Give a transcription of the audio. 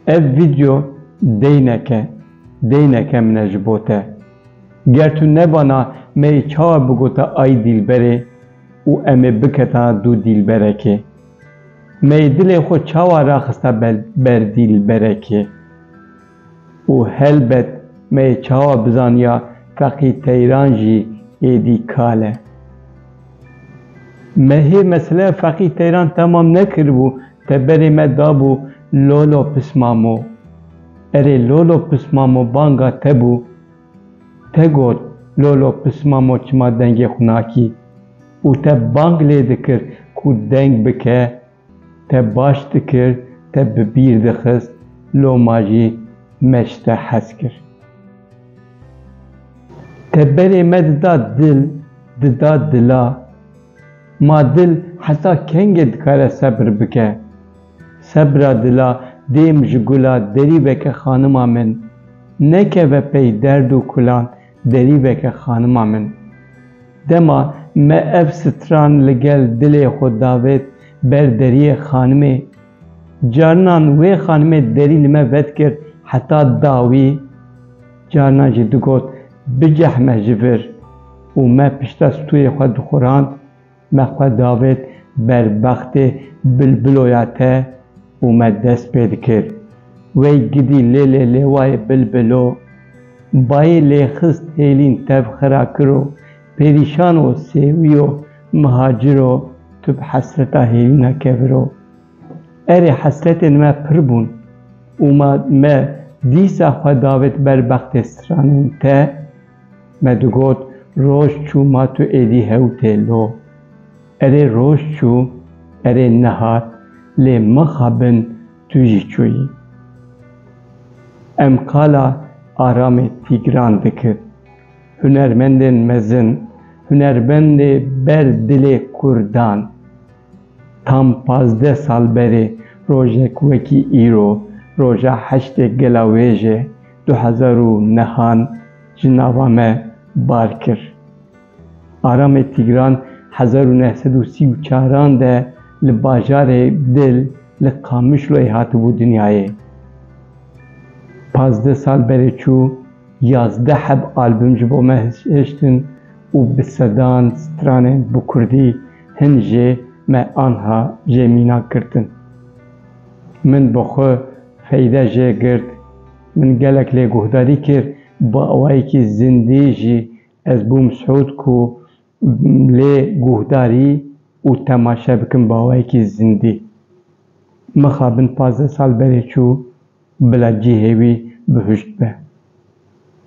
Ev video deyneke, deyneke min e ji bo te. Ger tu nebana me ê çawa bigota ay dîlberê û em ê biketana dû dîlberekê? Me ê dilê xwe çawa raxista ber dîlberekê? Û helbet me yê çawa bizaniya feqî teyran jî êdî kal e. Me hê meseleya feqî teyran temam nekiribû teberê me dabû Lolo Pismamo. Erê Lolo Pismamo banga te bû. Te got Lolo Pismamo çima dengê xwe nakî. Û te bang lê dikir ku deng bike. Te baş dikir, te bi bîr dixist, loma jî me ji te hez kir. Te berê me dida dil, dida dila. Ma dil heta kengê dikare sebr bike? Sebra dila dêm ji gula derî veke xanima min. Nekeve pey derd û kulan. Derî veke xanima min. Dema me ev stran li gel dilê xwe davêt ber deriyê xanimê, carinan wê xanimê derî li me vedikir heta dawî, carinan jî digot bicehme ji vir û me pişta stûyê xwe dixurand. Me xwe davêt ber bextê bilbiloya te û me dest pê dikir. Wey gidî lê lê lêwayê bilbilo bayê lê xist hêlîn tev xira kiro perîşan o sêwîyo miha ciro tu bi hesreta hêlîna keviro. Erê hesretên me pir bûn û ma me dîsa xwe davêt ber bextê stranên te. Me digot, Roj çû ma tu êdî hew tê lo. Erê roj çû, erê nehat, lê maxa bin tu jî çûyî. Em qala Aramê Tîgran dikir. Hunermendên mezin, hunermendê ber dilê kurdan. Tam pazdeh sal berê rojek wekî îro, roja heştê gela wêjê du hezar û nehan ji nava me bar kir. Aramê Tîgran hezar û neh sed û sî û çaran de li bajarê Dil li Qamişloyê hatibû dinyayê. Pazdeh sal berê çû, yazdeh heb album ji bo me hiştin û bi sedan stranên bi kurdî, Hin jê me anha jê mîna girtin. Min bi xwe feyde jê girt. Min gelek lê guhdarî kir, bi awayekî zindî jî ez bûm siûd ku lê guhdarî û temaşe bikim bi awayekî zindî. Mixabin pazdeh sal berê çû bila cihê wî bihuşt be.